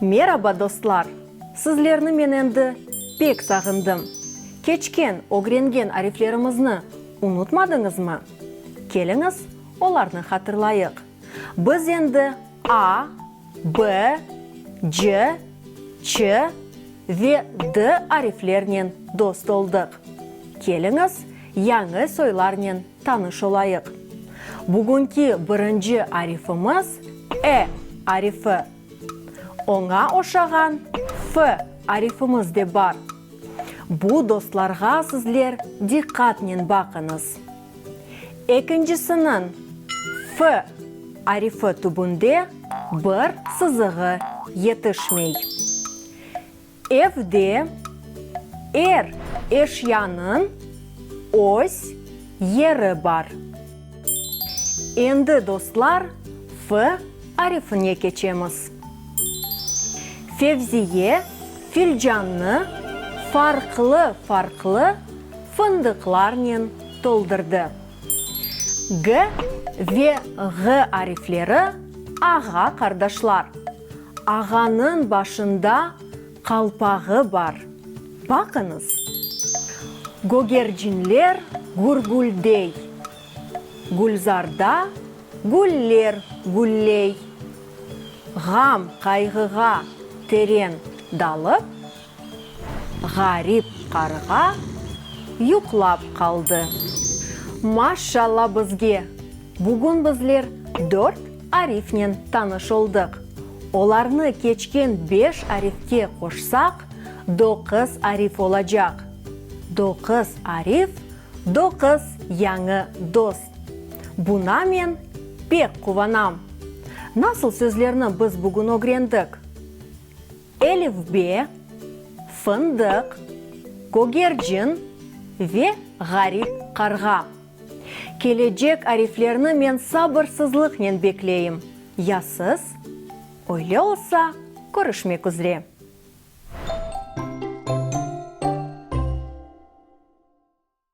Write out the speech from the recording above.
Meraba dostlar! Sizlerni men endi pek sağındım. Keçken, ögrengen ariflerimizni unutmadıñızmı? Keliñiz, olarnı hatırlayıq. Biz endi a, b, c, ç ve d ariflernen dost oldıq. Keliñiz, yañı soylarnen Tanış olayıq. Bugünki birinci arifimiz, e arifi. Oña oşağan f arifimiz de bar. Bu dostlarğa sizler diqqatnen baqıñız. Ekincisiniñ f arifi tübünde bir sızığı yetişmey. Evde er eşyanıñ öz yeri bar. Endi dostlar F arifine keçemiz. Fevziye filcannı farqlı-farqlı fındıqlarnen toldurdı. G ve Ğ arifleri ağa-qardaşlar. Ağanıñ başında qalpağı bar. Baqıñız! Gögercinler gürgüldey. Gülzarda güller gülley. Ğam, qayğığa teren dalıp. Ğarip qarğa yuqlap qaldı. Maşşalla bizge! Bugün bizler dört arifnen tanış oldıq. Olarnı keçken beş arifke qoşsaq, doquz arif olacaq. Doquz arif, doquz yañı dost. Buna men pek quvanam. Nasıl sözlerni biz bugün ögrendik? Elifbe, fındıq, kögercin ve ğarip qarğa. Kelecek ariflerni men sabırsızlıqnen bekleyim, ya siz? Öyle olsa, körüşmek üzre.